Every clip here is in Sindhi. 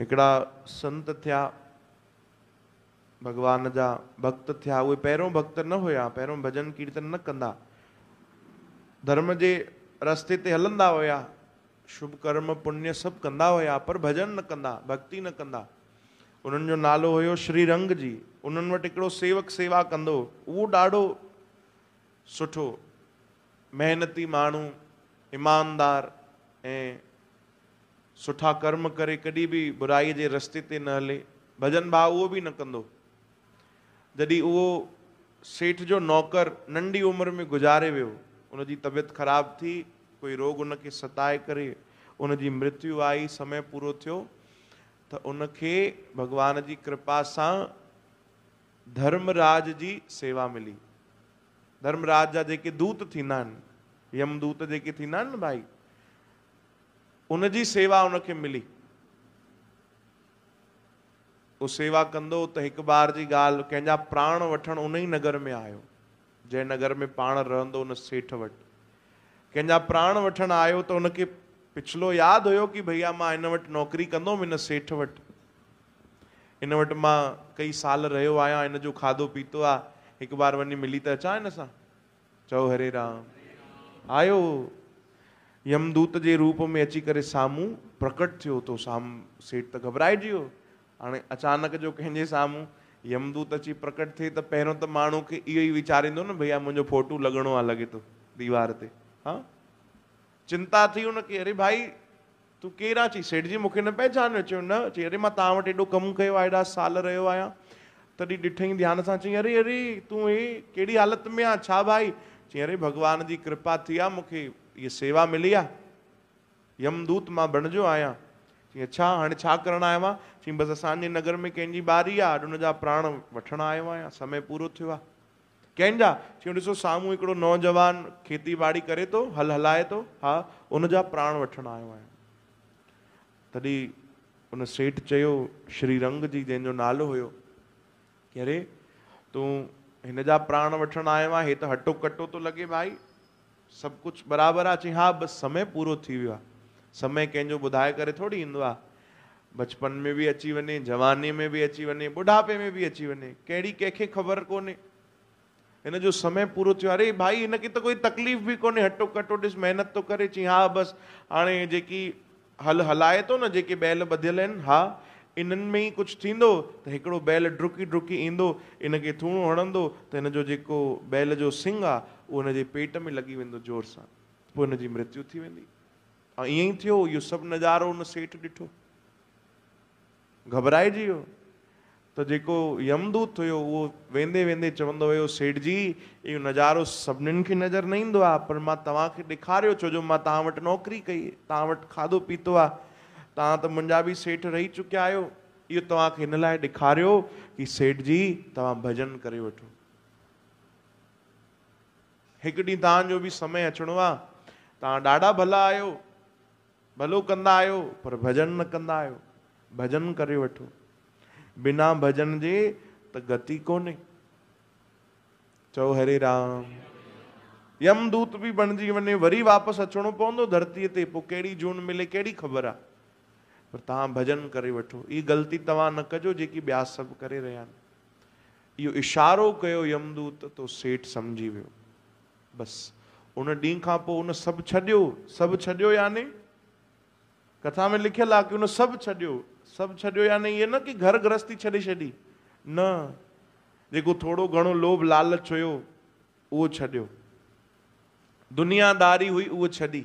هڪڙا سنت ٿيا، ڀڳوان جا ڀڳت ٿيا، اهي پهريون ڀڳت نه هيا، پهريون ڀڄن ڪيرتن نه ڪندا، ڌرم جي رستي تي هلندا هيا، شڀ ڪرم پڃ سڀ ڪندا هيا، پر ڀڄن نه ڪندا، ڀڳتي نه ڪندا. انهن جو نالو هيو شري رنگ جي، انهن وٽ هڪڙو سيوڪ سيوا ڪندو هو، اهو ڏاڍو سٺو. محنتي ماڻهو، ايماندار ۽ سٺا ڪرم ڪري ڪڏهن به برائي جي رستي تي نه هلي. ڀڄن ڀاء اهو به نه ڪندو. جڏهن اهو سيٺ جو نوڪر ننڍي عمر ۾ گذاري ويو، ان جي طبيعت خراب ٿي، ڪوئي روڳ ان کي ستائي ڪري ان جي مرتيو آئي، سمي پورو ٿيو ته ان کي ڀڳوان جي ڪرپا سان ڌرمراج جي سيوا ملي. ڌرمراج جا جيڪي دوت ٿيندا آهن، يمدوت جيڪي ٿيندا آهن نه ڀائي، ان جي سيوا ان کي ملي. هو سيوا ڪندو ته هڪ بار جي ڳالهه، ڪنهن جا پراڻ وٺڻ ان ئي نگر ۾ آيو، جنهن نگر ۾ پاڻ رهندو ان سيٺ وٽ. ڪنهن جا پراڻ وٺڻ آيو ته ان کي پڇلو ياد هيو ڪي ڀئيا مان هن وٽ نوڪري ڪندو هوم هن سيٺ وٽ. هن وٽ مان ڪئي سال رهيو آهيان، هن جو کاڌو پيتو آ، هڪ بار وڃي ملي ته اچان هن سان. چئو هري رام. آيو يمدوت جي روپ ۾ اچي ڪري سامهون پرڪٽ ٿيو تو سام سيٺ ته گهٻرائجي ويو. هاڻي اچانڪ جو ڪنهن جي سامهون يمدوت اچي پرڪٽ ٿئي ته پهريون ته ماڻهو کي اهو ئي ويچاريندو نه ڀئيا منهنجو ڦوٽو لڳڻو آ لڳي ٿو ديوار تي هان. چنتا ٿي هن کي، اري ڀائي! تون ڪير آهين؟ چيائين، سيٺ جي مون کي نه پهچانيو؟ چيو، نه. چيائين، اري مان توهان وٽ ايڏو ڪم ڪيو آهي، ايڏا سال رهيو آهيان. تڏهن ڏٺئين ڌيان سان، چيائين، اري اري! تون هي ڪهڙي حالت ۾ آهين؟ ڇا ڀائي؟ چيائين، اري ڀڳوان جي ڪرپا ٿي آهي، مون کي هيء سيوا ملي آهي. يمدوت مان بڻجيو آهيان. چيائين، اڇا! هاڻي ڇا ڪرڻ آيو آهين؟ چيائين، بس اسان جي نگر ۾ ڪنهن جي ٻاري آهي، اڄ ان جا پراڻ وٺڻ آيو آهيان. سمي پورو ٿيو آهي. ڪنهن جا؟ چيو ڏسو سامهون هڪڙو نوجوان کيتي ٻاڙي ڪري ٿو، هل هلائي ٿو، ها ان جا پراڻ وٺڻ آيو آهيان. تڏهن ان سيٺ چيو شري رنگ جي جنهن جو نالو هيو، ڪي اري تون هن جا پراڻ وٺڻ آيو آهين، هي ته هٽو ڪٽو ٿو لڳي ڀائي، سڀ ڪجهه برابر آ. چيائين، ها بس سمي پورو ٿي ويو آ. سمي ڪنهن جو ٻڌائي ڪري ٿوري ايندو آ. بچپن ۾ به اچي وڃي، جوانيء ۾ به اچي وڃي، ٻڍاپي ۾ به اچي وڃي. ڪهڙي ڪنهن کي خبر ڪونهي. هن جو سمي پورو ٿيو آ. اري ڀائي هن کي ته ڪوئي تڪليف به ڪونهي. هٽو ڪٽو ڏس محنت ٿو ڪري. چيائين، ها بس هاڻي جيڪي هل هلائي ٿو نه جيڪي بيل ٻڌيل آهن ها انهن ۾ ئي ڪجهه ٿيندو ته هڪڙو بيل ڊرڪي ڊرڪي ايندو ان کي ٿوڻو هڻندو ته هن جو جيڪو بيل جو سنگ آ اهو هن جي پيٽ ۾ لڳي ويندو زور سان پوء هن جي مرتيو ٿي ويندي ۽ ائين ئي ٿيو اهو سڀ نظارو ان سيٺ ڏٺو. گهٻرائجي ويو ته جيڪو يمدوت هيو اهو ويندي ويندي چوندو ويو سيٺ جي اهو نظارو سڀنين کي نظر نه ايندو آهي پر مان توهان کي ڏيکاريو ڇو جو مان توهان وٽ نوڪري ڪئي توهان وٽ کاڌو پيتو آهي توهان ته منهنجا به سيٺ رهي چڪيا آهيو اهو توهان کي ان لاء ڏيکاريو هي سيٺ جي توهان ڀڄن ڪري وٺو هڪ ڏينهن توهان جو به سمي اچڻو آهي توهان ڏاڍا ڀلا آهيو ڀلو ڪندا آهيو پر ڀڄن نه ڪندا آهيو ڀڄن ڪري وٺو بنا ڀڄن جي ته گتي ڪونهي چئو هري رام يم دوت به بڻجي وڃي وري واپس اچڻو پوندو ڌرتي تي پوء ڪهڙي جون ملي ڪهڙي خبر آ پر توهان ڀڄن ڪري وٺو هي غلطي توهان نه ڪجو جيڪي ٻيا سڀ ڪري رهيا آهن اهو اشارو ڪيو يم دوت تو سيٺ سمجهي ويو بس ان ڏينهن کان پوء ان سڀ ڇڏيو، سڀ ڇڏيو يعني؟ ڪٿا ۾ لکيل آ ڪي ان سڀ ڇڏيو، سڀ ڇڏيو يعني اهي نه ڪي گهر گرهستي ڇڏي ڇڏي، نه، جيڪو ٿورو گهڻو لوڀ لالچ هيو اهو ڇڏيو، دنيا داري هئي اهو ڇڏي،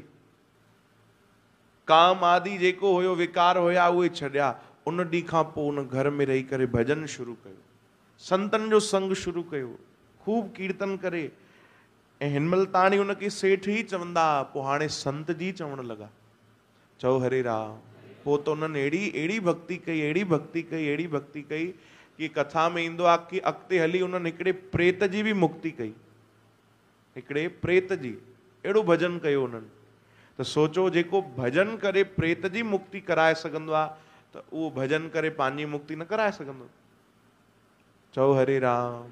ڪام آدي جيڪو هيو وڪار هيا اهي ڇڏيا، ان ڏينهن کان پوء ان گهر ۾ رهي ڪري ڀڄن شروع ڪيو، سنتن جو سنگ شروع ڪيو. خوب ڪيرتن ڪري ۽ هن مهل تاڻي ان کي سيٺ ئي چوندا ها، پوء هاڻي سنت جي چوڻ لڳا. چئو هري رام. پوء ته انهن اهڙي اهڙي ڀڳتي ڪئي، اهڙي ڀڳتي ڪئي، اهڙي ڀڳتي ڪئي ڪي ڪٿا ۾ ايندو آهي ڪي اڳتي هلي انهن هڪڙي پريت جي به مڪتي ڪئي. هڪڙي پريت جي اهڙو ڀڄن ڪيو انهن ته سوچو جيڪو ڀڄن ڪري پريت جي مڪتي ڪرائي سگهندو آهي ته اهو ڀڄن ڪري پنهنجي مڪتي نه ڪرائي سگهندو؟ چئو هري رام.